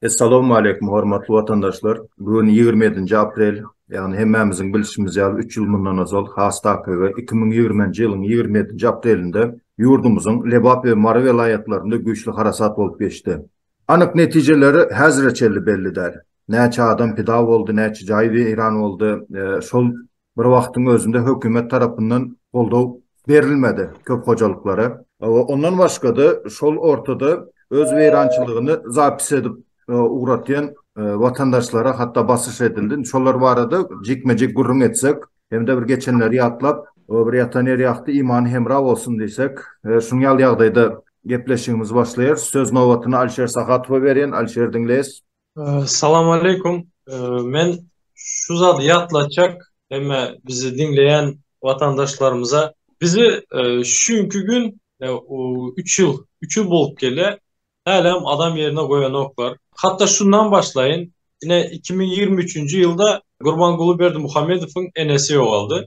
Essalawmaleýkum hormatly watandaşlar. Bu gün ýigrimi ýedinji aprel, ýagny hemmämiziň bilşimiz ýaly üç ýyl mundan ozal has takygy iki müň ýigrimi nji ýylyň ýigrimi ýedinji aprelinde ýurdumyzyň Lebap we Mary welaýatlarynda güýçli harasat bolup geçdi. Anyk netijeleri häzire çenli belli däl. Näçe adam pida boldy, näçe jaý weýran boldy, şol bir wagtyň özünde hökümet tarapyndan goldaw berilmedi köp hojalyklara. Ondan başga-da, şol ortada öz weýrançylygyny zapis edip ugratýan watandaşlara hatda basyş edildi. Indi şolar barada jikme-jik gürrüň etsek hem-de bir geçenleri ýatlap, bir ýatan ýer ýakdy, imany hemra bolsun diýsek, şunuň ýaly ýagdaýda gepleşigimizi başlaýarys. Söz nobatyny Alişer Sahatowa berýän. Alişer, diňleýäs. Salam aleýkum. Men şu zady ýatlatjak hemme bizi diňleýän watandaşlarymyza. Bizi şu günki gün üç ýyl, üç ýyl bolup gelýä, hälem adam ýerine goýanoklar. Hatda şundan başlaýyn, ine iki müň ýigrimi üçünji ýylda Gurbanguly Berdimuhamedowyň enesi ýogaldy.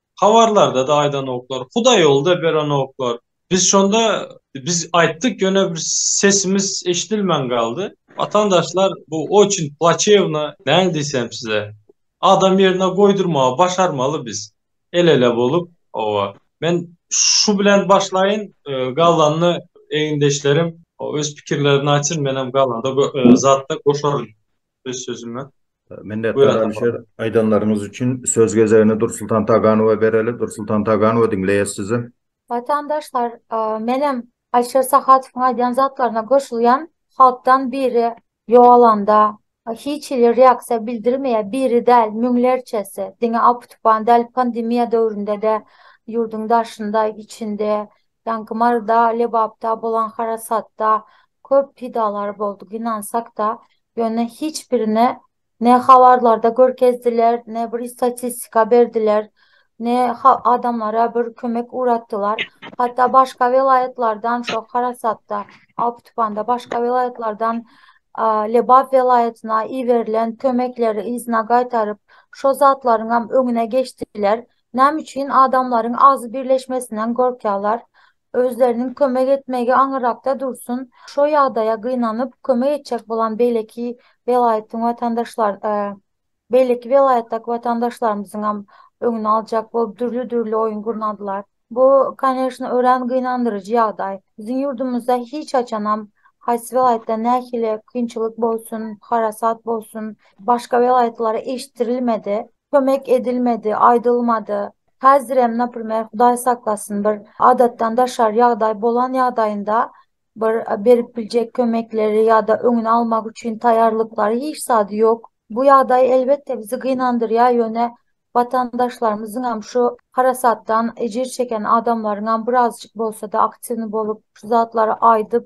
Habarlarda-da aýdanoklar, Hudaýýolda berenoklar. Biz şonda, biz aýtdyk, ýöne bir sesimiz eşidilmän galdy. Watandaşlar, bu oçin plaçewno, näme diýsem size. Adam ýerine goýdurmagy başarmaly biz, el-ele bolup. Hawa, men şu bilen başlaýyn, galanyny egindeşlerim öz pikirlerini aýtsyn, menem galanda zatda goşaryn. öz sözüme. Minnetdar Alişer, aýdanlaryňyz üçin. Söz gezegini Dursultan Taganowa bereli. Dursultan Taganowa, diňleýäs sizi. Watandaşlar, menem Alişer Sahatowyň aýdýan zatlaryna goşulýan. Halkdan biri ýogalanda, hiç hili reaksiýa bildirmeýär. Biri däl, müňlerçesi. Diňe apu-tupan däl, pandemiýa döwründe-de ýurduň daşynda, içinde Ýaňky Maryda, Lebapda bolan harasatda köp pidalar boldy, gynansak-da, ýöne hiç birini ne habarlarda görkezdiler, ne bir statistika berdiler, ne ha adamlara bir kömek ugratdylar. Hatda başga welaýatlardan şo harasatda, aw-tupanda başga welaýatlardan a Lebap welaýatyna iberilen kömekleri yzyna gaýtaryp, şo zatlaryňam öňüne geçdiler. Näme üçin adamlaryň agzy birleşmesinden gorkýarlar? Özleriniň kömek etmegi aňyrrakda dursun, şo ýagdaýa gynanyp, kömek etjek bolan beýleki welaýatyň watandaşlar, beýleki welaýatdaky watandaşlarymyzyňam öňüni aljak bolup dürli-dürli oýun gurnadylar. Bu, koneşno, örän gynandyryjy ýagdaý. Biziň ýurdumyzda hiç haçanam, haýsy welaýatda nähili kynçylyk bolsun, harasat bolsun, başga welaýatlara eşitdirilmedi. kömek edilmedi, aýdylmady. Häzirem, naprimer, Hudaý saklasyn, bir adatdan daşary ýagdaý bolan ýagdaýynda bir berip biljek kömekleri ýa-da öňüni almak üçin taýýarlyklary hiç zady ýok. Bu ýagdaý, elbetde, bizi gynandyrýar, ýöne watandaşlarymyzyňam, şu harasatdan ejir çeken adamlaryňam birazjyk bolsa-da aktiwny bolup, şu zatlary aýdyp,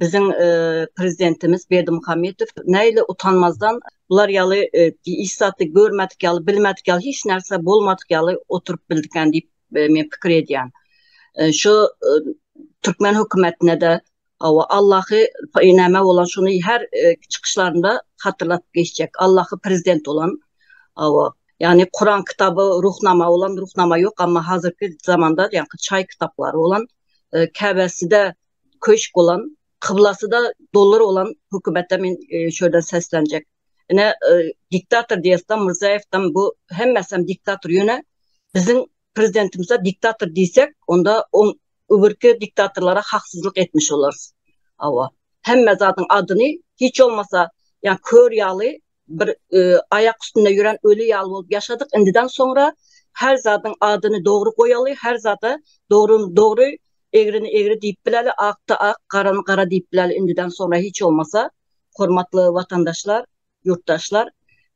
biziň prezidentimiz Berdimuhamedow näle utanmazdan bular ýaly hiç zady görmedik ýaly, bilmedik ýaly, hiç närse bolmadyk ýaly oturyp bildikä diýip men pikir edýän. Şu türkmen hökümetine-de Awa Allahy näme bolan şuny her e, çykyşlarynda hatırlap geçjek. Allahy prezident bolan awa yani Kur'an kitabı ruhnama bolan ruhnama yok ama hazırki zamanda yani çay kitapları bolan e, käbesi de köşk bolan, kyblasy-da dollar bolan hökümete men şu ýerden seslenjek. Ine, diktator diýesem, Myrzaýewden bu hemmesem diktator. Ýöne biziň prezidentimize diktator diýsek, onda oň öbürki diktatorlara haksyzlyk etmiş bolarys. Hawa, hemme zadyň adyny hiç bolmasa, ýa kör ýaly bir aýak üstünde ýören öli ýaly bolup ýaşadyk indiden soňra her zadyň adyny dogry goýaly her zada dogryny dogry egrini egri diýip bileli akda ak garany gara diýip bileli indiden soňra hiç bolmasa hormatly watandaşlar ýurtdaşlar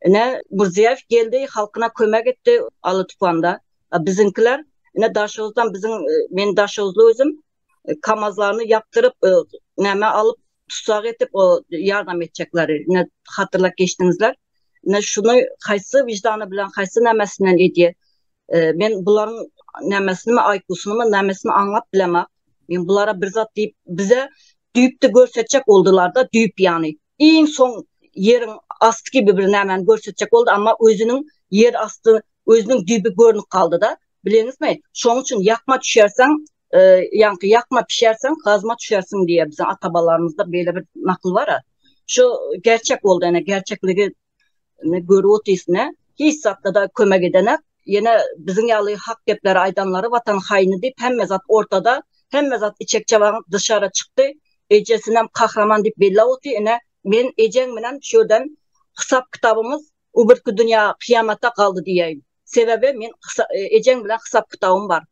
ine Mirziýaýew geldi halkyna kömek etdi Aly tupanda biziňkiler ine daşoguzdan biziň men daşoguzly özüm e, kamazlaryny yaptırıp e, näme alyp tusak etip o yardım etjekleri ne hatırlap geçdiňizler ne şunu haýsy vicdanı bilen haýsy nämesinden edýär e, men bularyň nämesini aýkusyny nämesini aňlap bilemok men bulara bir zat diýip bize düýpde görsetjek boldular da düýp ýany iň soň ýeriň asty kibi bir nämäni görsetjek boldy, amma özüniň ýer asty, özüniň düýbi görnüp galdy-da. Bileňizmi, şonuň üçin ýakma düşersiň, ýaňky ýakma pişersiň, gazma düşersiň diýýär biziň ata-babalarymyzda beýle bir nakyl bar-a. Şu gerçek boldy, ene, gerçekligi Indi görüp otyrsyn-a, hiç zatda-da kömek edenak. Ýene biziň ýaly hak gepleri aýdanlary watan haýyny diýip hemme zat ortada, hemme zat içek-çabaň dyşara çykdy. Ejesinem kahraman diýip bellap otyr. Ine, men ejeň bilen şu ýerden hysap-kitabymyz bu birki dünýä kyýamata galdy diýäýin. Sebäbi men ejeň bilen hysap-kitabym bar.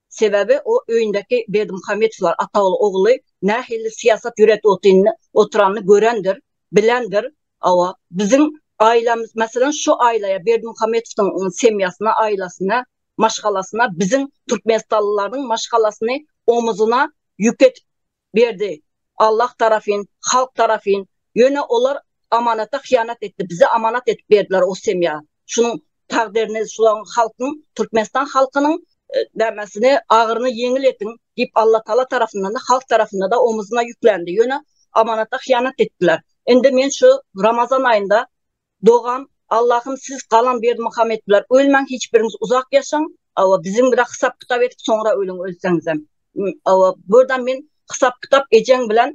Sebäbi o öýündäki Berdimuhamedowlar ataoğlu ogly nähili syýasat ýöredip otyny oturanyny görendir, bilendir. Hawa, biziň aýlamyz, meselem, şu aýlaýa Berdimuhamedowdyň semýasyna, aýlasyna, maşgalasyna biziň türkmenistanlylaryň maşgalasyny omuzuna ýük edip Berdi. Allah tarafyn, halk tarafyn, ýöne olar amanata hyýanat etdi, bize amanat edip berdiler o semýa. Şunuň takdyryny şulaň halkyň, Türkmenistan halkynyň nämäsini, agyryny ýeňil ediň diýip Allatagala tarafyndan-da, halk tarafynda-da omuzuna ýüklendi, ýöne amanata hyýanat etdiler. Indi men şu Ramazan aýynda Dogan Allahym siz galan berdimuhammet biler ölmäň hiç biriňiz uzak ýaşaň awa biziň bilen hysap kitap edip soňra ölüň ölseňizem awa burdam men hysap kitap ejeň bilen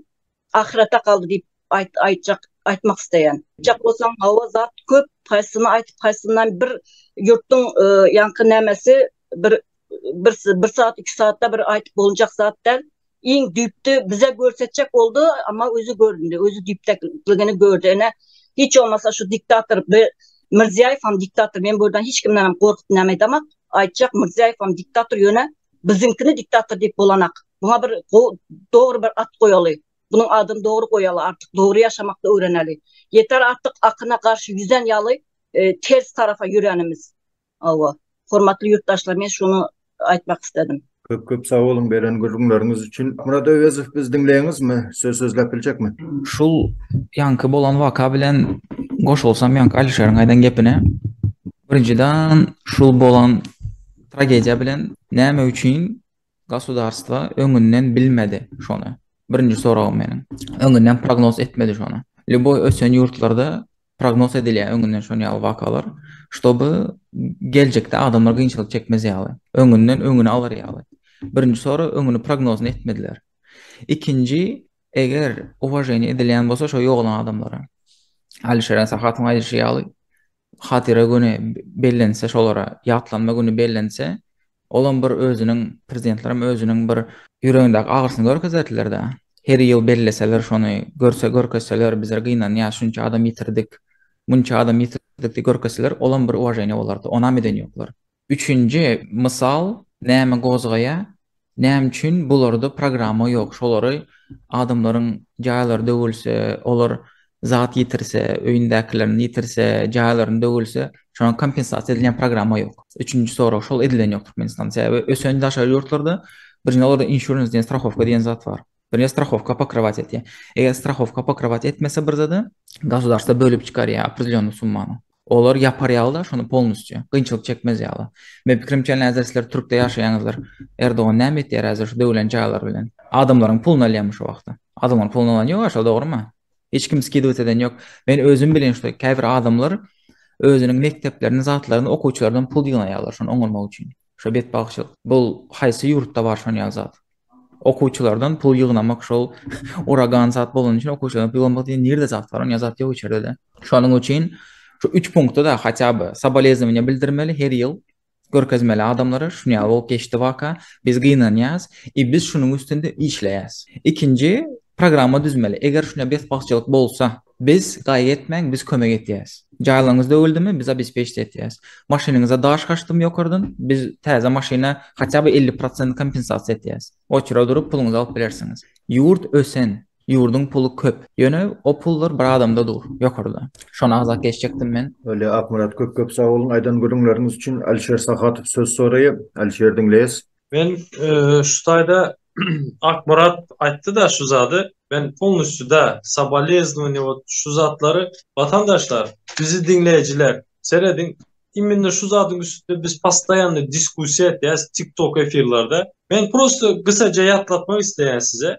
ahyrete galdy diýip aýt aýtjak aýtmak isleýän. Aýtjak bolsaň hawa zat köp haýsyny aýtyp haýsyndan bir ýurtdyň ýaňky nämesi bir bir bir saat iki saatda bir aýdyp boljak zat däl iň düýpde bize görsetjek boldy amma özi göründi özi düýpdäkligini gördi ene hiç olmasa şu diktator bir Mirziýaýew hem diktator men bu ýerden hiç kimden hem gorkup näme aýdamak aýtjak Mirziýaýew hem diktator ýöne biziňkini diktator diýip bolanak buňa bir dogry bir at goýaly bunuň adyny dogry goýaly artyk dogry ýaşamakda öwreneli ýeter artyk akyna garşy ýüzen ýaly e, ters tarafa ýörenimiz Hawa. Hormatly ýurtdaşlar men şuny aýtmak isledim. Köp köp sag boluň beren gürrüňleriňiz üçin. Murat Öwezow biz diňleýäňizmi? Söz sözläp biljekmi? Şul ýaňky bolan waka bilen goşulsam ýaňky Alişeriň aýdan gepine. Birinjiden şul bolan tragediýa bilen näme üçin gosudarstwa öňünden bilmedi şony? Birinji soragym meniň. Öňünden prognoz etmedi şony. Lýuboý ösen ýurtlarda prognoz edilýär öňünden şon ýaly wakalar, ştoby geljekde adamlar gynçylyk çekmez ýaly, öňünden öňüni alar ýaly. Birinji sora öňüni prognozyny etmediler. Ikinji, eger uwaženiýe edilýän bolsa şo ýogalan adamlara, Alişeren Sahatyň aýdyşy ýaly, hatyra güni bellense şolara, ýatlanma güni bellense, Olam bir özüniň prezidentlerem özüniň bir ýüregindäki agyrysyny görkezerdiler-dä. Her ýyl belleseler şony, görse görkezseler bizler gynanýas, şunça adam ýitirdik, munça adam ýitirdik diýip görkezseler olam bir uwaženiýa bolardy. Onam eden ýoklar. Üçünji mysal näme gozgaýa, näme üçin bularda programma ýok, şolary adamlaryň jaýlary döwülse, olar zat ýitirse, öýündäkilerini ýitirse, jaýlaryny döwülse, şoňa kompensasiýa edilýän programma ýok. Üçünji sorag şol edilen ýok Türkmenistanda. Sebäbi ösen daşary ýurtlarda birinji olarda insurance diýen strahowka diýen zat bar. Birinji strahowka pokrywat etýär. Eger strahowka pokrywat etmese bir zada, gasudarstwa bölüp çykarýar opredelýonnyý summany. Olar ýapar ýaly-da şony polnusçy. Kynçylyk çekmez ýaly. Meniň pikirimçe häzir sizler türkde ýaşaýaňyzdyr. Erdogan näme etýär häzir şu döwlen jaýlar bilen. Adamlaryň pulyny alýamy şu wagta. Adamlaryň pulyny alan ýok aşa dogrymy. Hiç kim skidowat eden ýok. Men özüm bilen şuda käbir adamlar özüniň mekdeplerini zatlaryny okuwçylardan pul ýygnaýarlar şony oňarmak üçin. Şo betbagtçylyk. Bul haýsy ýurtda bar şon ýaly zat. Okuwçylardan pul ýygnamak şol uragan zat bolany üçin okuwçylardan pul ýygnamak diýen nirde zat bar, onýa zat ýok içerdede. Şonuň üçin şu üç punkta-da hatýa by soboleznowaniýa bildirmeli her ýyl görkezmeli adamlara şunýaly bolup geçdi waka, biz gynanýas i biz şunuň üstünde işleýäs. Ikinji programma düzmeli, eger şunýa betbagtçylyk bolsa, Biz, Gaýgy etmäň, biz kömek etýäs. Jaýlaryňyz döwüldimi, biz obespeçit etýäs. Maşynyňyza daş gaçdymy ýokardan, biz täze maşyna haçan bir elli prosent kompensasiýa etýäs. Oçura durup puluňyzy alyp bilersiňiz. Ýurt ösen, ýurduň puly köp. Ýöne o pullar bir adamda dur, ýokarda. Şony agzap geçjekdim men. Öle Akmyrat köp köp sag boluň aýdan gürrüňleriňiz üçin Alişer Sahatow söz soraýa Alişer diňleýäs. Men şu taýda Akmyrat aýtdy-da şu zady, men polnusýuda saboleznowaniýa wot şu zatlary watandaşlar, bizi diňleýjiler, serediň, immenne şu zadyň üstünde biz postoýanno diskussiýa etýäs tik tok efirlerde. Men prosto gysaja ýatlatmak isleýän size,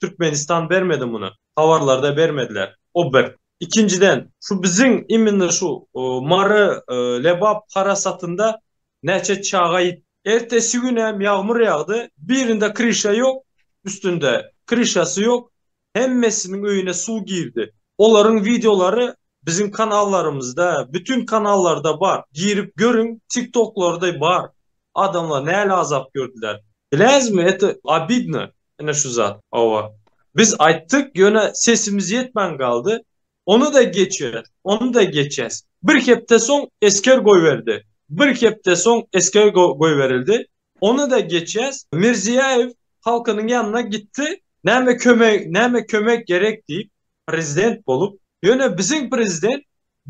Türkmenistan bermedi muny. Habarlarda bermediler. O bir. Ikinjiden, şu biziň imенно şu Mary Lebap harasatynda näçe çaga ýitdi. Ertesi gün hem ýagmyr ýagdy. Birinde kryşa ýok, üstünde kryşasy ýok. Hemmesiniň öýüne suw girdi. Olaryň wideolary biziň kanallarymyzda, bütin kanallarda bar. Girip görüň, tiktoklarda bar. Adamlar näle azap gördüler. Biläňizmi, eto obidno. Ine şu zat. Hawa. Biz aýtdyk, ýöne sesimiz ýetmän galdy. Ony-da geçeris, ony-da geçeris. Bir hepde soň esger goýberdi. Bir hepde soň esger goýberildi. Ony-da geçeris. Mirziýaýew halkynyň ýanyna gitdi. Näme kömek, näme kömek gerek diýip, prezident bolup. Ýöne biziň prezident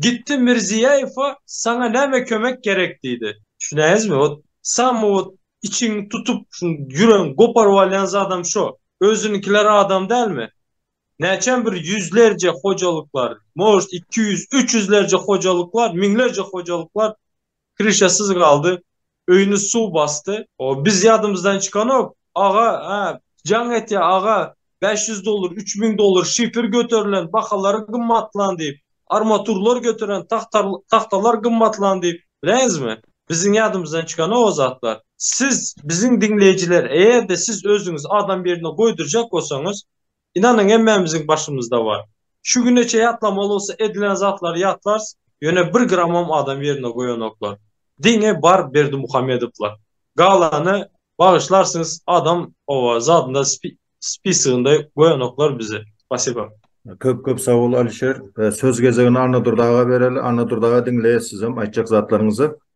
Gitdi Mirziýaýewa saňa näme kömek gerek diýdi. Düşünäýizmi, ot samy ot içiňi tutup şu ýüregiňi goparyp alýan zadam şo. Özünikiler adam dälmi? Näçem bir ýüzlerje hojalyklar, может iki ýüz, üç ýüzlerje hojalyklar, müňlerje hojalyklar Krişasyz galdy. Öýüni suw basdy. O, biz ýadymyzdan çykanok, aga, hä, jaň etýär, aga, bäş ýüz dollar, üç müň dollar, şifr göterilen, bahalary gymmatlan diýip, armaturlar göteren, tahtar, tahtalar gymmatlan diýip, bileňizmi? Biziň ýadymyzdan çykanok o zatlar. Siz, biziň diňleýjiler, eger-de siz özüňizi adam ýerine goýdurjak bolsaňyz, Ynanyň hemmämiziň başymyzda bar. Şu güne çeýe ýatlamaly bolsa edilen zatlary ýatlarys, ýöne bir gramam adam ýerinde goýanoklar. Diňe bar Berdimuhamedowlar. Galany bagyşlarsyňyz adam oba zadynda spisygynda goýanoklar bizi. Spasiba. Köp köp sag bol Alişer. Söz gezegini Annadurdy aga bereli. Annadurdy aga diňleýäs sizem aýtjak zatlaryňyzy.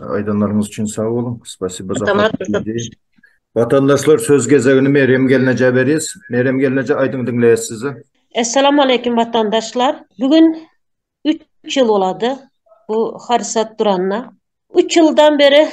Aýdanlaryňyz üçin sag boluň. Spasibo Watandaşlar söz gezegini Merýem gelnejä berýäs. Merýem gelneje aýdyň diňleýäs sizi. Essalamu aleýkum watandaşlar. Bu gün 3 ýyl bolady bu hadysat duranyna. 3 ýyldan beri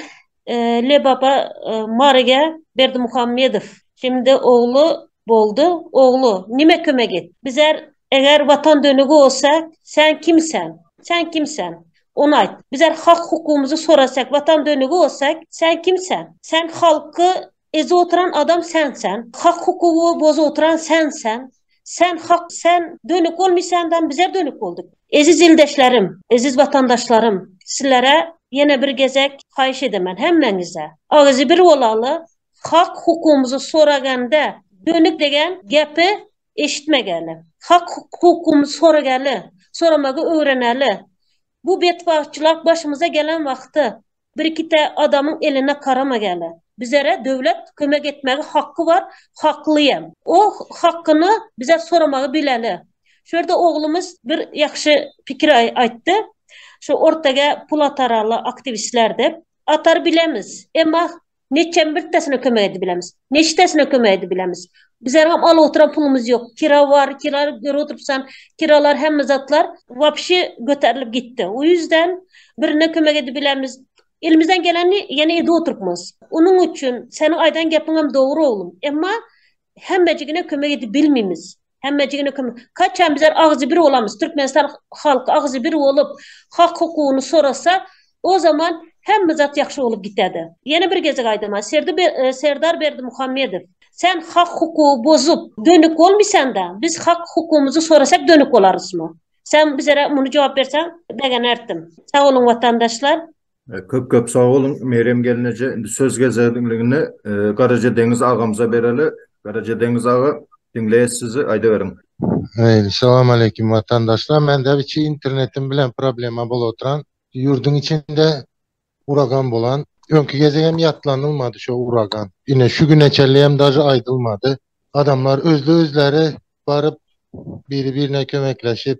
e, Lebaba e, Maryga Berdimuhammedow, şimdi ogly Boldy, oglu, nime kömek et. Bizär, eger Watan dönügi bolsak, sen kimsen? Sen kimsen? Ony aýt. Bizär hak-hukumyzy sorasak, Watan dönügi bolsak, sen kimsen? Sen halky ezip oturan adam sensen. Hak-hukugy bozup oturan sensen. Sen hak, sen dönük bolmysandan bizär dönük boldyk. Eziz ildeşlerim, eziz watandaşlarym, sizlere ýene bir gezek haýyş edemen, hemmäňize. Agyzybir bolaly, Hak hukumyzy soraganda döni degen gepi eşitmegäle. Hak hukumyzy soragäle, soramagy öwrenäle. Bu betbagtçylyk başymyza gelen wagty birikite adamyň eline karamagäle. Bizere döwlet kömek etmegi haky bar, hakly hem. O hakyny bize soramagy bileli. Şu ýerde oglumyz bir ýakşy pikir aýtdy. Şu ortaga pul ataraly aktiwistler dep. Atar bilemiz. Emma Neçem birtesine kömek edip bilemis. Neçtesine kömek edip bilemis. Bizergem alyp oturan pulumyz ýok. Kira bar, kira görüp oturupsan, kiralar hemme zatlar wapşe göterilip gitdi. O ýüzden birine kömek edip bilemis. Elimizden geleni ýene edip oturupmyz. Onuň üçin seniň aýdan gepiňem dogry oglum. Emma Hemmejigine kömek edip bilmimiz. Hemmejigine kömek. Kaçan bizler agzybir bolamyz, Türkmenistan halky agzybir bolup, hak-hukugyny sorasa, o zaman hemme zat ýagşy bolup giterde. Ýene bir gezek aýdaman, Serdar Berdimuhamedow, sen hak-hukugy bozup, dönük bolmysan-da, biz hak-hukugymyzy sorasak dönük bolarysmy? Sen bizlere muny jogap berseň, begenerdim. Sag boluň, watandaşlar! Köp köp sag boluň Merýem gelneje indi söz gezeligini Garaja Deňiz agamyza bereli Garaja Deňiz aga diňleýäs sizi aýdyberiň. Salam aleýkum watandaşlar mende biçi internetim bilen problema bolup oturan ýurduň içinde uragan bolan öňki gezek hem ýatlanylmady şo uragan ine şu güne çenli hem daže aýdylmady adamlar özli özleri baryp biri birine kömekleşip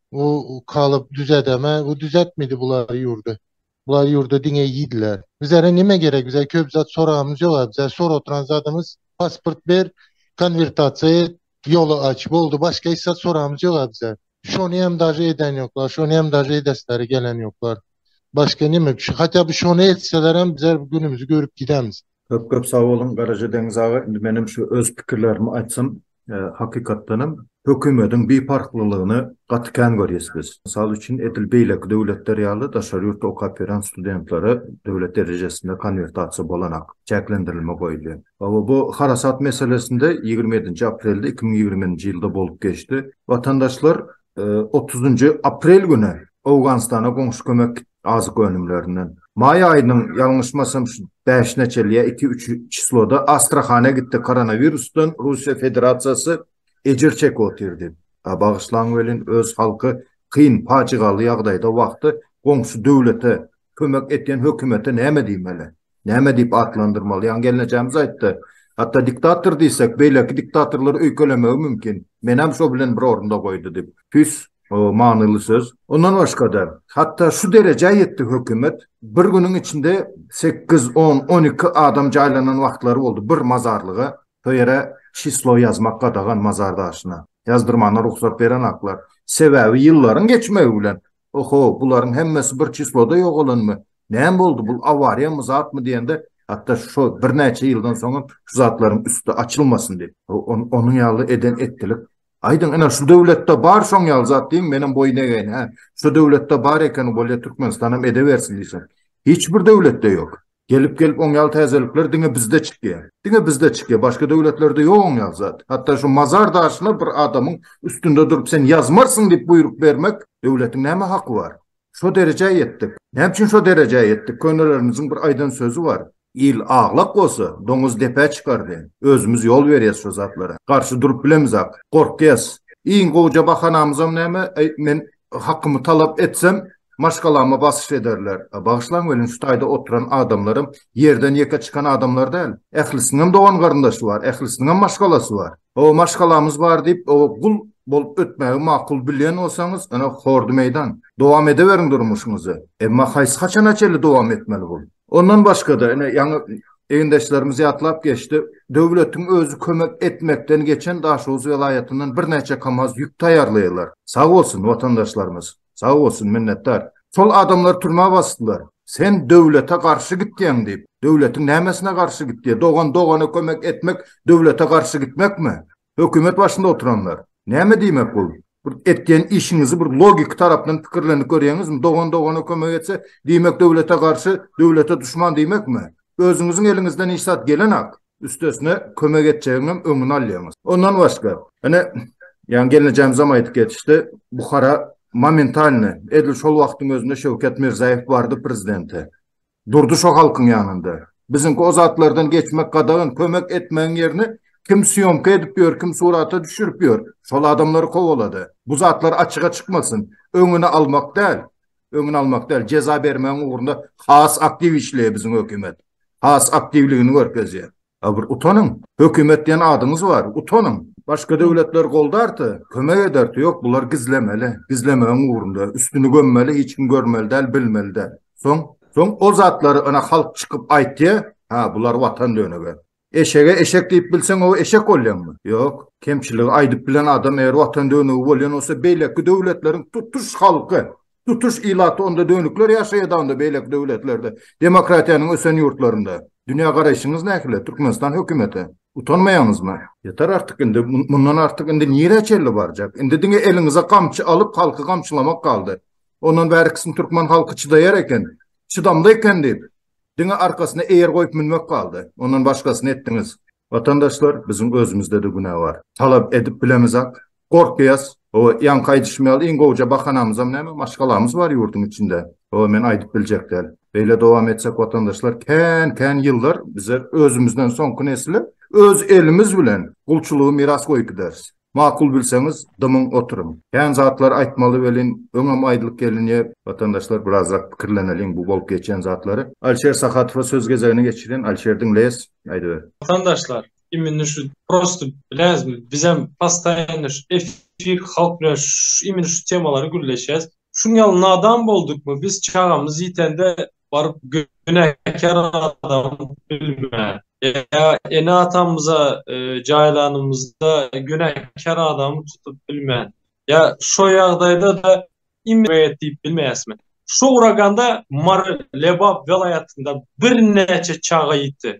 Bu kalyp düzedeme, bu düzetmedi bular ýurdy. Bular ýurda diňe ýediler. Bizlere nime gerek? Bize köp zat soramyz ýok. Bize sor oturan zadymyz pasport ber, konvertasiýa et, ýoly aç. Boldy, başga hiç zat soramyz ýok bize. Şony hem daže eden ýoklar, şony hem daže edesleri gelen ýoklar. Başga nime? Şu hatda bu şony etseler hem bizler günümizi görüp gidemiz. Köp köp sag boluň Garaja Deňiz aga, indi menem şu öz pikirlerimi aýtsam, hakykatdanam hökümediň biparhlylygyny gaty kän görýäs biz. Mysal üçin edil beýleki döwletler ýaly daşary ýurtda okap ýören studentlere döwlet derejesinde konwertasiýa bolanak çäklendirilme goýulýar. Hawa bu harasat meselesinde ýigrimi ýedinji aprelde iki müň ýigrimi nji ýylda bolup geçdi. Watandaşlar otuzynjy aprel güni Owganystana goňşy kömek Azyk önümlerinden. Maý aýynyň, ýalňyşmasam, şu bäşine çenli ýa iki-üç çysloda Astrahana gitdi, koronawirusdan Russiýa Federasiýasy ejir çekip otyrdy. A bagyşlaň welin, öz halky kyn, pajygaly ýagdaýda wagty goňşy döwlete kömek etýän hökümete näme diýmeli? Näme diýip atlandyrmaly? Ýaňy gelnejemiz aýtdy. Hatda diktator diýsek, beýleki diktatorlar öýkelemegi mümkin. Menem şo bilen bir orunda goýdy diýip. Tüýs manyly söz. Ondan başga-da, hatda şu derejä ýetdi hökümet, bir günüň içinde sekiz, on, on iki adam jaýlanan wagtlary boldy bir mazarlyga. Şo ýere çislo ýazmak gadagan mazar daşyna. Ýazdyrmana rugsat berenaklar. Sebäbi ýyllaryň geçmegi bilen Oho, bularyň hemmesi bir çisloda ýogalanmy? Näme boldy, bul awariýamy, zatmy diýende, hatda şo birnäçe ýyldan soňam şu zatlaryň üsti açylmasyn diýip, onuň ýaly eden etdilik. Aýdyň, ine, şu döwletde bar şoň ýaly zat diýiň, menem boýun egeýin, hä? Şu döwletde bar ekeni, bolýa Türkmenistan hem edebersin diýseň. Hiç bir döwletde ýok. Gelip gelip oň ýaly täzelikler diňe bizde çykýa. Diňe bizde çykýa başga döwletlerde ýok oň ýaly zat. Hatda şu mazar daşyna bir adamyň üstünde durup sen ýazmarsyň diýip buýruk bermek döwletiň näme haky bar. Şo derejä ýetdik. Näme üçin şo derejä ýetdik könelerimiziň bir aýdan sözi bar. Il aglak bolsa doňuz depä çykar diýen. Özümiz ýol berýäs şo zatlara. Garşy durup bilemizak. Gorkýas. Iň gowja bahanamyzam näme? Aý men Hakymy talap etsem, maşgalama basyş ederler. Bagyşlaň welin şu taýda oturan adamlaram ýerden ýeke çykan adamlar däl. Ählisiniňem dogan-garyndaşy bar, ählisiniňem maşgalasy bar. Hawa, maşgalamyz bar diýip, oňa gul bolup ötmägi makul bilýän bolsaňyz, ine, hordy meýdan. Dowam edeweriň durmuşyňyzy. Emma haýsy haçana çenli dowam etmeli bul? Ondan başga-da, ine, ýaňy egindeşlerimiz ýatlap geçdi, döwletiň özi kömek etmekden geçen Daşoguz welaýatyndan birnäçe kamaz ýük taýýarlaýarlar. Sag bolsun watandaşlarymyz, sag bolsun, minnetdar. Şol adamlary türmä basdylar. Sen döwlete garşy gitýäň diýip. Döwletiň nämesine garşy gitdi? Dogan dogana kömek etmek döwlete garşy gitmekmi? Hökümet başynda oturanlar. Näme diýmek bul? Bir etýän işiňizi bir logiki tarapdan pikirlenip görýäňizmi? Dogan dogana kömek etse, diýmek döwlete garşy, döwlete duşman diýmekmi? Özüňiziň eliňizden hiç zat gelenok. Üstesine kömek etjegiňem öňüni alýaňyz. Ondan başga, ine, ýaňy gelnejemizem aýdyp geçdi, Buhara momentalny, edil şol wagtyň özünde Şewket Mirzaýew bardy prezidente. Durdy şo halkyň ýanynda. Biziňki o zatlardan geçmek gadagan kömek etmegiň ýerine kim sýomka edip ýör kim surata düşürip ýör şol adamlary kowalada. Bu zatlar açyga çykmasyn. Öňüni almak däl. Öňüni almak däl. Jeza bermegiň ugrunda has aktiw işleýä biziň hökümet. Has aktiwligini görkezýä. A bir utanyň. Hökümet diýen adyňyz bar. Utanyň. Başga döwletler goldarty, kömek ederti, ýok bular gizlemeli. Gizlemegiň ugrunda. Üstüni gömmeli, hiç kim görmeli däl, bilmeli däl. Soň? Soň ol zatlary ynha halk çykyp aýtýa, ha bular watan dönügi. Eşege eşek diýip bilseň ow eşek bolýaňmy? Ýok. Kemçiligi aýdyp bilen adam eger watan dönügi bolýan bolsa beýleki döwletleriň tutuş halky Tutuş ilaty onda dönükler ýaşaýada onda beýleki döwletlerde, demokratiýanyň ösen ýurtlarynda. Dünýä garaýşyňyz nähili Türkmenistan hökümete? Utanmaýaňyzmy? Ýeter artyk indi mundan artyk indi nirä çenli barjak? Indi diňe eliňize gamçy alyp halky gamçylamak galdy. Ondan bärikisini türkmen halky çydaýar eken, çydamly eken diýip diňe arkasyna eýer goýup münmek galdy. Ondan başgasyny etdiňiz. Watandaşlar biziň özümizdede günä bar. Talap edip bilemizak. Gorkýas. Hawa ýaňky aýdyşym ýaly iň gowja bahanamyzam näme maşgalamyz bar ýurduň içinde. Hawa men aýdyp biljek däl. Beýle dowam etsek watandaşlar kän kän ýyllar bize özümizden soňky nesle öz elimiz bilen gulçulygy miras goýup gideris. Makul bilseňiz, dymyň oturyň. Kän zatlar aýtmaly welin, öňem aýdylyp gelinýä. Watandaşlar birazrak pikirleneliň bu bolup geçen zatlary. Alişer Sahatowa söz gezegini geçirin. Alişer diňleýäs, aýdyber. Watandaşlar imini şu prosto bilesmi bizem postaýanno şu efir halk bilen şu imini şu temalary gürleşýäs şuňňaly nadan boldukmy biz çagamyz ýitende Baryp günäkär adam bilmän, ýa ene-atamyza jaýlanymyzda günäkär adamy tutup bilmän, ýa şo ýagdaýda-da im rät diýip bilmeýäsmi? Şu uraganda Mary Lebap welaýatynda birnäçe çaga ýiti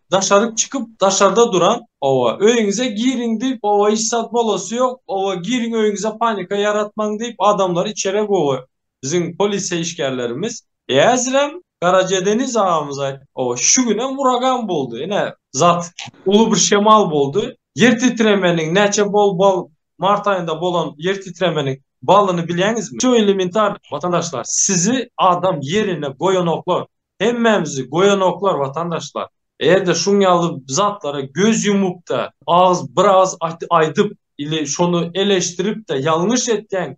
Daşaryk çykyp daşarda duran oba öýüňize giriň diýip oba hiç zat bolasy ýok oba giriň öýüňize panika ýaratmaň diýip adamlary içerä gowy biziň polisiýa işgärlerimiz äzirem Garaje Deniz agamyz aýt oba şu günem uragan boldy ine zat uly bir şemal boldy ýer titremeniň näçe bol bal mart aýynda bolan ýer titremeniň balyny bilýäňizmi şu elementar watandaşlar sizi adam ýerine goýanoklar Hemmämizi goýanoklar watandaşlar. Eger-de şuň ýaly zatlara göz ýumup-da, agyz bir agyz aýdyp ili şony eleşdirip-de ýalňyş etýäň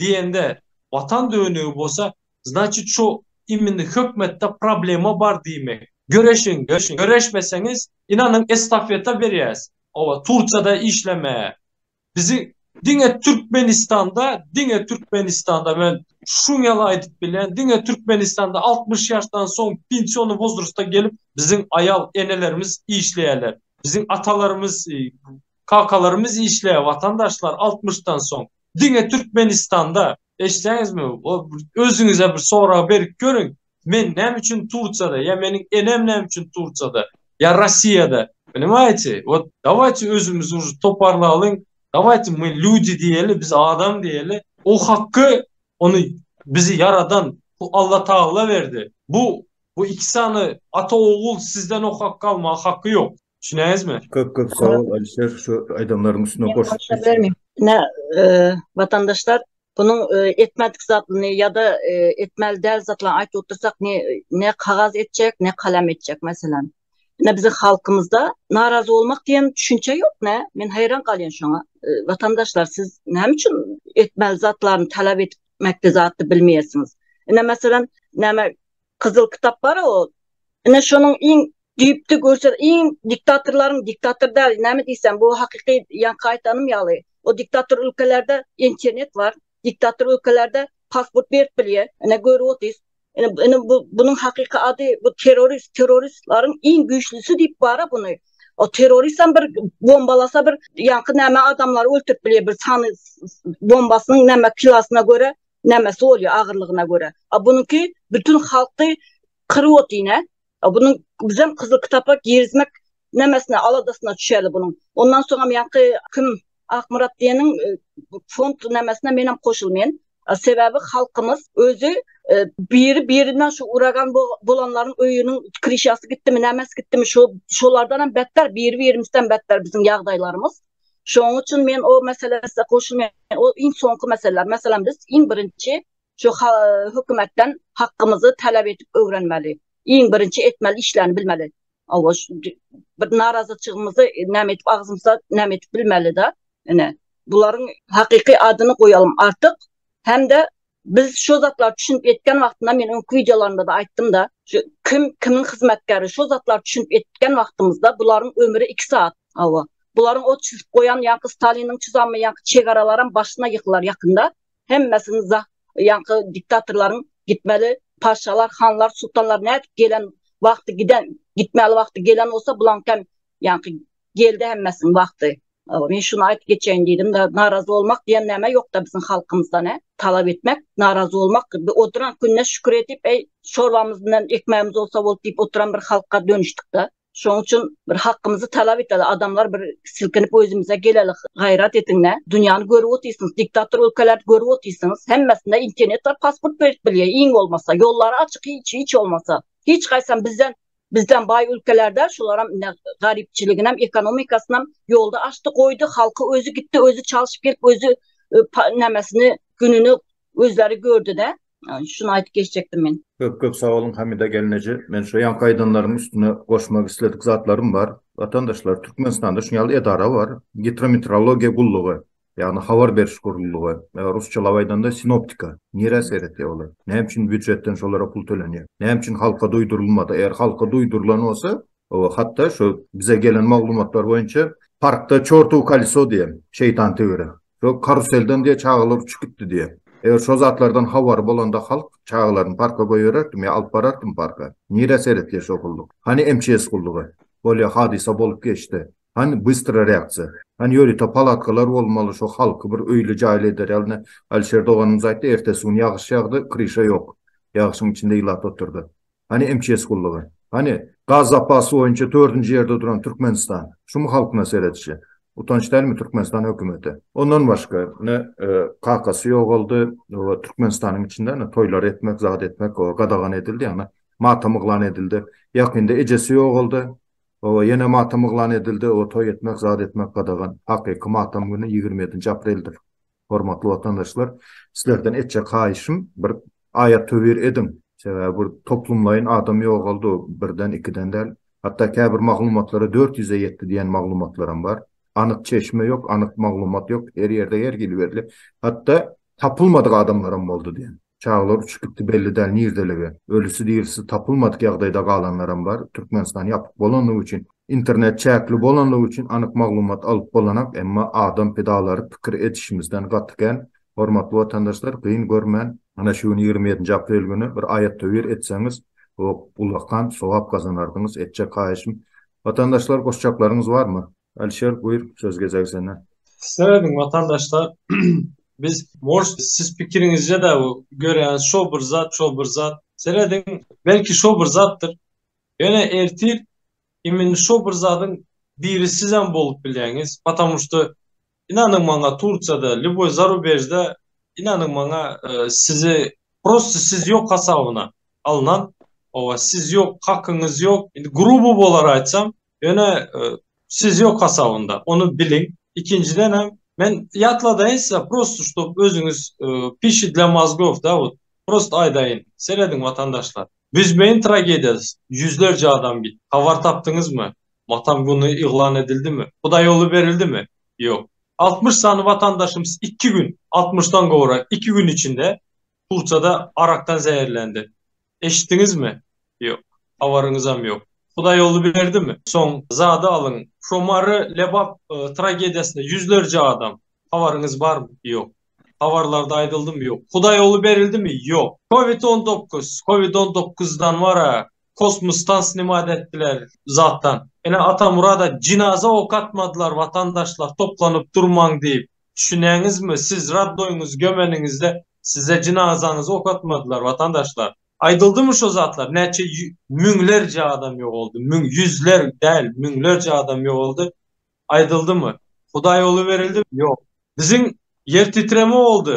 diýende watan dönügi bolsa, znaçit şu imini hökmetde problema bar diýmek. Göreşiň, göreşmeseňiz, ynanyň estafeta berýäs, oba, Turkiýada işlemäge. Bizi diňe Türkmenistanda, diňe Türkmenistanda men şuň ýaly aýdyp bilýän, diňe Türkmenistanda altmyş ýaşdan soň pensiony wozrsta gelip biziň aýal enelerimiz işleýärler. Biziň atalarymyz, kakalarymyz işleýär watandaşlar altmyşdan soň. Diňe Türkmenistanda. Eşitýäňizmi? Özüňize bir sorag berip görüň. Men näme üçin Tursiýada ýa meniň enem näme üçin Tursiýada ýa Rossiýada? Poнимajete? Wot dawajte özümizi uje toparlalyň, dawajte my lýudi diýeli, biz adam diýeli. O hakky ony bizi ýaradan bu Alla Tagalla berdi. Bu bu iki sany ata ogul sizden o hakky almaga hakky ýok. Düşünäýizmi? Köp köp sag bol Alişer şu aýdanlaryň üstüne goşup. Ine watandaşlar bunuň etmedik zadyny ýa-da etmeli däl zadyny aýdyp otursak ne ne kagaz etjek ne kalem etjek meselem. Ine biziň halkymyzda narazy bolmak diýen düşünje ýok nä men haýran galýan şoňa. Watandaşlar siz näme üçin etmeli zatlaryny talap etmekde zatdy bilmeýärsiňiz. Ine meselem näme Gyzyl kitap bar ol. Ine şonuň iň düýpli görşer iň diktatorlaryň diktator däl näme diýsem bu hakyky ýaňky aýtanym ýaly o diktator ülkelerde internet bar diktator ülkelerde pasport berip bilýä ine görüp otyrys ine ine bu bunuň hakyky ady bu terrorist terroristlaryň iň güýçlisi diýip bara buny o terroristam bir bombalasa bir ýaňky näme adamlary öldürip bilýä bir sany bombasynyň näme kilasyna görä Nämesi bolýar agyrlygyna görä. A bunuňky bütün halky kyryp otyna. A bunuň bizem Kyzyl kitapa girizmek nämesine aladasyna düşeli bunuň. Ondan soňam ýaňky kim Akmyrat diýeniň e, fond nämesine menem goşulmaýan. Sebäbi halkymyz özi e, biri birinden şu uragan bolanlaryň öýüniň krişasy gitdimi, nämes gitdimi, şu şolardan hem betler, biri birimizden betler biziň ýagdaýlarymyz. Şonuň üçin men o meselesinde goşulmaýan. O iň soňky mesele. Meselem biz iň birinji şu hökümetden hakkymyzy talap edip öwrenmeli. Iň birinji etmeli işlerini bilmeli. Awa şu bir narazyçygymyzy näme edip agzymyza näme edip bilmeli-de. Ine bularyň hakyky adyny goýalym artyk hem-de Biz şu zatlary düşünip etgen wagtynda men öňki wideolarymda-da aýtdym-da, şu kim kimiň hyzmatkäri şu zatlary düşünip etgen wagtymyzda bularyň ömri iki saat, hawa. Bularyň ot çüzüp goýan ýaňky Staliniň çyzanmy ýaňky çegaralaram başyna ýykylar ýakynda. Hemmesini za ýaňky diktatorlaryň gitmeli paşşalar, hanlar, sultanlar nädip gelen wagty giden gitmeli wagty gelen bolsa bulaňkam Ýaňky geldi hemmesiniň wagty. Men şuny aýdyp geçeýin diýdim, narazy bolmak diýen näme ýokda biziň halkymyzda ne, talap etmek, narazy bolmak, oturan gününe şükür edip, eý, çorbamyz bilen ekmegimiz bolsa bolup diýip oturan bir halka dönüşdikde. Şonuň üçin bir hakymyzy talap eteli, adamlar bir silkinip özümize geleli, gaýrat ediňle, dünýäni görüp otyrsyňyz, diktator ülkeleri görüp otyrsyňyz, hemmesinde internet bar, pasport berip bilýär, iň bolmasa, ýollary açyk, hiç, hiç bolmasa, hiç haýsam bizden Bizden baý ülkelerde şularam ine garypçylygynyam ekonomikasynam ýolda açdy goýdy halky özi gitdi özi çalşyp gelip özi nämesini gününi özleri gördüde şuny aýdyp geçjekdim men. Köp köp sag boluň Hamida gelneje men şu ýaňky aýdanlaryň üstüne goşmak isledik zatlarym bar. Watandaşlar Türkmenistanda şuňaly edara bar Gitrometrologiýa gullugy. ýagny habar beriş gurulýy, rusçalap aýdanda sinoptika, nirä seretýär olar? Näme üçin býujetden şolara pul tölenýär? Näme üçin halka duýdurylmady? Eger halka duýdurylan bolsa, hatda şu bize gelen maglumatlar boýunça parkda çortow koleso diýen, şeýtan töwerek, şo karuselden diýe çagalar uçup gitdi diýe. Eger şo zatlardan habary bolanda halk çagalaryny parka goýbererdim ýa alyp barardym parka. Nirä seretýär şo gulluk? Hany MÇS gullugy? Bolýa hadysa bolup geçdi. Hany bystra reaksiýa? Hany ýörite palatkalar bolmaly şo halky bir öýli jaýly eder ýaly Alişer doganymyz aýtdy ertesi gün ýagyş ýagdy kryşa ýok ýagyşyň içinde ilat otyrdy. Hany MÇS gullugy? Hany gaz zapasy boýunça dördünji ýerde duran Türkmenistan? Şumy halkyna seredişi? Utanç dälmi Türkmenistan hökümeti? Ondan başga ine kakasy ýogaldy we Türkmenistanyň içinde ine toýlar etmek zat etmek gadagan edildi ýagny matam yglan edildi ýakynda ejesi ýogaldy Hawa, ýene matam yglan edildi, o toý etmek, zat etmek gadagan. Hakyky matam güni ýigrimi ýedinji apreldir. Hormatly watandaşlar, sizlerden etjek haýyşym, bir aýat-töwir ediň. Sebäbi bir toplumlaýyn adam ýogaldy, birden, ikiden däl. Hatda käbir maglumatlara dört ýüze ýetdi diýen maglumatlaram bar. Anyk çeşme ýok, anyk maglumat ýok, her ýerde her hili berlip, hatda tapylmadyk adamlaram boldy diýen. Çagalar uçup gitdi belli däl nirdelige. Ölüsi dirisi tapylmadyk ýagdaýda galanlaram bar. Türkmenistan ýapyk bolanlygy üçin, internet çäkli bolanlygy üçin anyk maglumat alyp bolanak, emma adam pidalary pikir edişimizden gaty kän. Hormatly watandaşlar gyn görmän, ana şu gün ýigrimi ýedinji aprel güni bir aýat-töwir etseňiz o gulakan sogap gazanardyňyz etjek haýyşym watandaşlar goşjaklaryňyz barmy? Alişer buýr söz gezegi sende. Söýdüm watandaşlar biz morş siz pikiriňizce de bu görýäniz şo bir zat şo bir zat serediň belki şo bir zatdyr ýöne ertir imin şo bir zadyň biri sizem bolup bilýäňiz patamuşda Inanyň maňa Turkiýada lýuboý zarubejde inanyň maňa sizi prosta siz ýok hasabyna alnan oba siz ýok hakyňyz ýok indi gruby bolar aýtsam ýöne siz ýok hasabynda ony biliň ikinjidenem men ýatladaýyn size prosta ştob özüňiz pişi dla mazgov da wot prosta aýdaýyn serediň watandaşlar büzmeýin tragediýasy ýüzlerje adam gitdi habar tapdyňyzmy Watan güni yglan edildimi? Hudaýýoly berildimi? Ýok. Altmyş sany watandaşymyz iki gün, altmyşdan gowrak, iki gün içinde Turçada arakdan zäherlendi. Eşitdiňizmi? Ýok. Habaryňyzam ýok. Hudaýýoly berdimi? Soň zady alyň. Şo Mary Lebap tragediýasynda ýüzlerje adam. Habaryňyz barmy? Ýok. Habarlarda aýdyldymy? Ýok. Hudaýýoly berildimi? Ýok. Covid on dokuz, covid on dokuzdan wara kosmosdan snimat etdiler zatdan ene atamurada jinaza ok atmadylar watandaşlar toplanyp durmaň diýip düşünýäňizmi siz radnoýyňyzy gömeniňizde size jinazaňyza ok atmadylar watandaşlar aýdyldymy şo zatlar näçe müňlerje adam ýogaldy müň ýüzler däl müňlerje adam ýogaldy aýdyldymy hudaý oly berildi ýok biziň ýer titreme boldy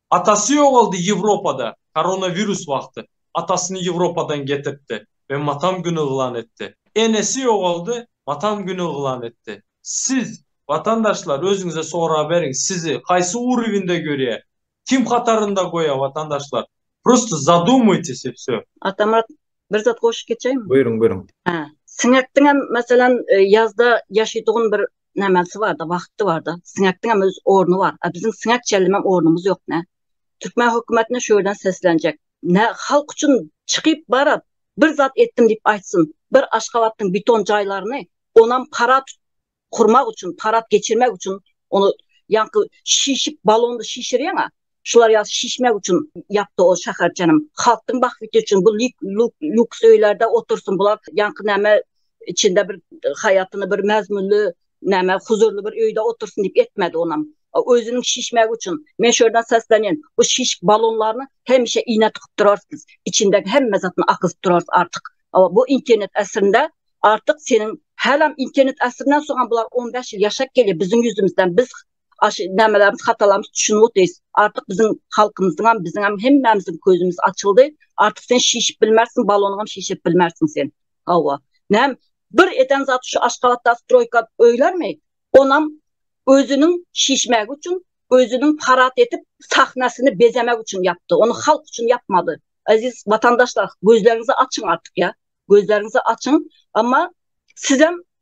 Atasy ýogaldy Ýewropada koronawirus wagty atasyny Ýewropadan getirtdi we matam güni yglan etdi. Enesi ýogaldy matam güni yglan etdi. Siz watandaşlar özüňize sorag beriň sizi haýsy urywinde görýä kim hatarynda goýa watandaşlar prosta zadumuytis i vsö. Atamyrat bir zat goşup geçeýinmi? Buýruň buýruň. Hä. Siňekdiňem meselem ýazda ýaşytugyn bir nämäsi bar-da, wagty bar-da. Siňekdiň hem öz orny bar. A biziň siňek çellemek ornumyz ýok nä. Türkmen hökümetine şu ýerden seslenjek. Nä halk üçin çykyp baryp, bir zat etdim diýip aýtsyn. Bir Aşgabatdyň beton jaýlaryny, onam parad gurmak üçin, parad geçirmek üçin, ony ýaňky şişip balondy şişirýäň-ä, Şular ýaly şişmek üçin ýapdy ol şäherçenim. Halkdyň bahbiti üçin bu lýuks öýlerde otursyn bular. Ýaňky näme içinde bir haýatyny bir mäzmünli näme huzurly bir öýde otursyn diýip etmedi onam. Özüniň şişmegi üçin. Men şu ýerden seslenýän. Bu şişik balonlaryny hemişe iýne tykyp durarsyňyz. İçindeki hemme zatyny akyzyp durarys artyk. Bu internet äsrinde artyk seniň hälam internet äsrinden soňam bular on bäş ýyl ýaşap gelýär biziň ýüzümizden. Biz aş nämelerimiz hatalarymyz düşünip otyrys artyk biziň halkymyzyň hem biziň hem hemmämiziň közümiz açyldy artyk sen şişip bilmersiň balonyň hem şişip bilmersiň sen hawa näm bir eden zat şu aşgabatda stroýka öýlermi onam özüniň şişmegi üçin özüniň parat edip sahnasyny bezemek üçin yapdy onu halk üçin yapmady aziz vatandaşlar gözlerinizi açyň artyk ya gözlerinizi açyň amma sizem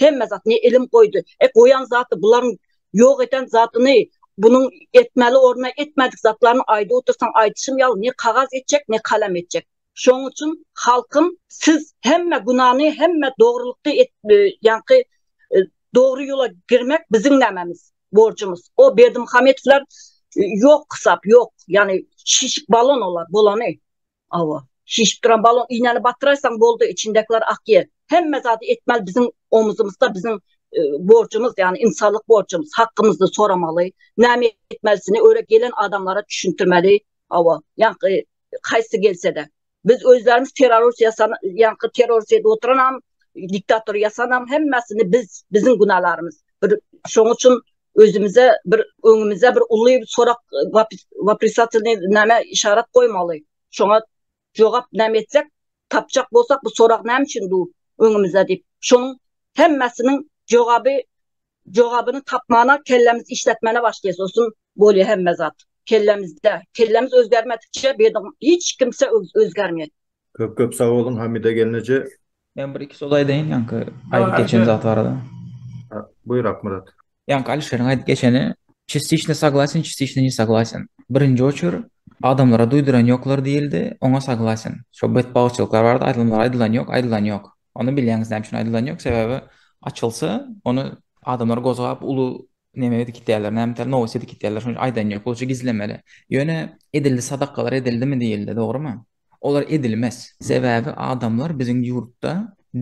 Hemme zat ne ilim goýdy. E goýan zaty bularyň ýok eden zatyny bunuň etmeli orna etmedik zatlaryny aýdyp otursaň aýdyşym ýaly ne kagaz etjek ne kalem etjek. Şoň üçin halkym siz hemme günany hemme dogrulykdy et e, ýaňky e, dogry ýola girmek biziň nämemiz borjumyz. O Berdimuhamedowlar e, ýok hesap ýok. Ýani şişik balon olar bolany. Hawa. Şişip duran balon iýnäni batyraysaň boldy içindekiler akýer. Hemme zady etmeli biziň omuzymyzda biziň borjumyz ýagny ynsanlyk borjumyz hakymyzdy soramaly. Näme etmelisini öre gelen adamlara düşündirmeli. Hawa. Ýaňky haýsy gelsede. Biz özlerimiz terrorist ýasan ýaňky terrorist edip oturanam diktator ýasanam hemmesini biz biziň günalarymyz. Bir şoň üçin özümize bir öňümize bir uly sorak waprisatelny näme işarat goýmaly şoňa jogap näme etsek tapjak bolsak bu sorak näme üçin bu öňümize diýip şonuň hemmesiniň jogaby jogabyny tapmana kellemiz işletmene başlaýas olsun bolýa hemme zat kellemizde kellemiz özgermedikçe bir hiç kimse özgermeýär köp köp sag boluň hamida gelneje Men bir iki söz aýdaýyn ýaňky aýdyp geçen zat barada. Buýur Akmyrat. Ýaňky Alişeriň aýdyp geçeni Çistiçni saglasen, çistiçni ne saglasen. Birinji oçur adamlara duýduran ýoklar diýildi, oňa saglasen. Şo betbagtçylyklar barada aýdylmalar aýdylan ýok, aýdylan ýok. Ony bilýäňiz näme üçin aýdylan ýok, sebäbi açylsa, ony adamlar gozgap uly neme edip gitýärler, näme tar nowus edip gitýärler, şonuň üçin aýdan ýok, bolça gizlemeli. Ýöne edildi sadakalar edildimi diýildi, dogrymy? Olar edilmez. Sebäbi adamlar biziň ýurtda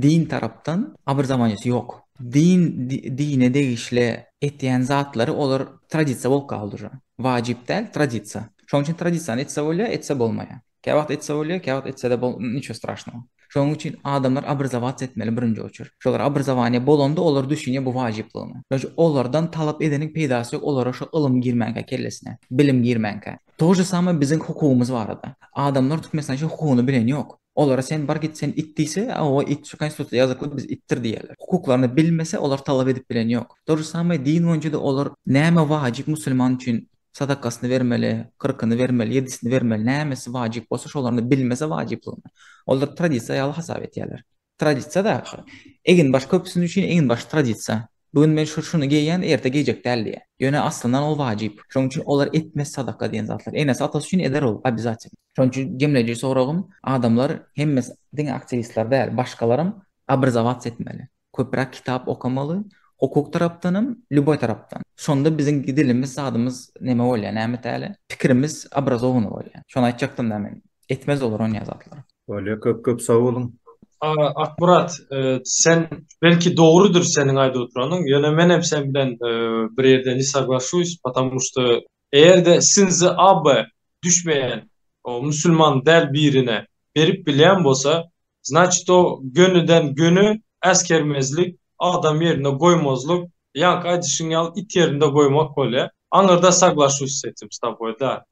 din tarapdan abrzawanýasy ýok. Din dine degişli etýän zatlary olar tradisiýa bolup galdy uje. Wajyp däl, tradisiýa. Şonuň üçin tradisiýany etse bolýar, etse bolmaýar. Käwagt etse bolýar, käwagt etsede bol niço straşnogo. Şonuň üçin adamlar abrzawac etmeli birinji oçert. Şolar abrzawanýa bolanda olar düşünýär bu wajyplygyna. Şonuň üçin olardan talap edeniň peýdasy ýok, olara şo ylym girmänkä kellesine, bilim girmänkä. To je samay biziň hukugymyz barada. Adamlar Türkmenistan şo hukugyny bilen ýok. Olara sen bar git sen it diýse owa it şu konstitusiýada ýazykly biz itdir diýerler. Hukuklaryny bilmese olar talap edip bilen ýok. To je samay din boýunçada olar näme wajyp musulman üçin sadakasyny bermeli, kyrkyny bermeli, ýedisini bermeli näme si wajyp bolsa şolaryny bilmese wajyplygyny. Olar tradisiýa ýaly hasap etýärler. Tradisiýa zat şo. Eginbaş köpüsiniň üçin eginbaş tradisiýa. Bu gün men şuny geýýän, erte geýjek däl diýýär. Ýöne aslyndan ol wajyp. Şonuň üçin olar etmez sadaka diýen zatlar. Enesi atasy üçin eder ol obýazatelno. Şonuň üçin jemleýji soragym, adamlar hemmes diňe aktiwistler däl, başgalaram obrazowats etmeli. Köpräk kitap okamaly, hukuk tarapdanam, lýuboý tarapdan. Şonda biziň dilimiz, zadymyz neme bolýar, näme täli? Pikirimiz obrazowany bolýar. Şony aýtjakdym-da men. Etmez olar onýa zatlar. Bolýa köp köp sag boluň. Akmyrat sen belki dogrydyr seniň aýdyp oturanyň ýöne menem sen bilen bir ýerde ne soglasuýs potamu şda eýerde sinzi abe düşmeýän o musulman däl birine berip bilýän bolsa znaçit o gönüden göni äsgermezlik adam ýerinde goýmazlyk ýaňky aýdyşyň ýaly it ýerinde goýmak bolýa aňyrda soglasuýs setim staboý da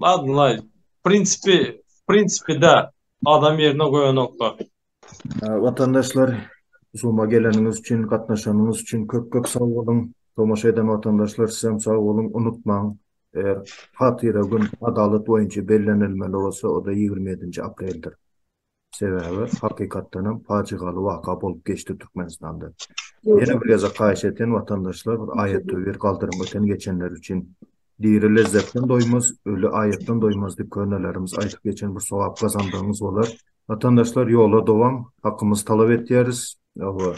Ladnlaý. Prinsipi, prinsipide adam ýerine goýanoklar. Watandaşlar, Zuma geleniňiz üçin, gatnaşanyňyz üçin köp-köp sag boluň. Tomaşa eden watandaşlar, sizem sag boluň. Unutmaň, eger hatyra gün adalat boýunça bellenilmeli bolsa, o-da ýigrimi ýedinji apreldir. Sebäbi hakykatdan hem pajygaly waka bolup geçdi Türkmenistanda. Ýene bir gezek haýyş etýän watandaşlar bir aýatda bir galdyryň öten geçenler üçin. Diri lezzetden doýmaz, öli aýatdan doýmaz diýip könelerimiz aýdyp geçen bir sogap gazandygyňyz bolar. Watandaşlar ýola dowam, hakymyzy talap etýäris. Hawa.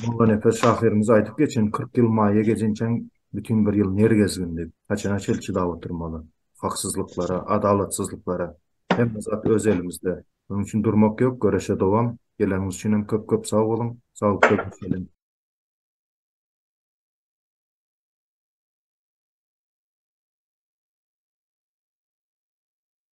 Mollanepes şahyrymyz aýdyp geçen kyrk ýyl maýa gejinçäň bütin bir ýyl ner gezgindi. Haçana çel çydap oturmaly. Haksyzlyklara, adalatsyzlyklara. Hemme zat öz elimizde. Öň üçin durmak ýok, göreşe dowam. Geleniňiz üçin hem köp köp sag boluň. Saglykda görşeliň.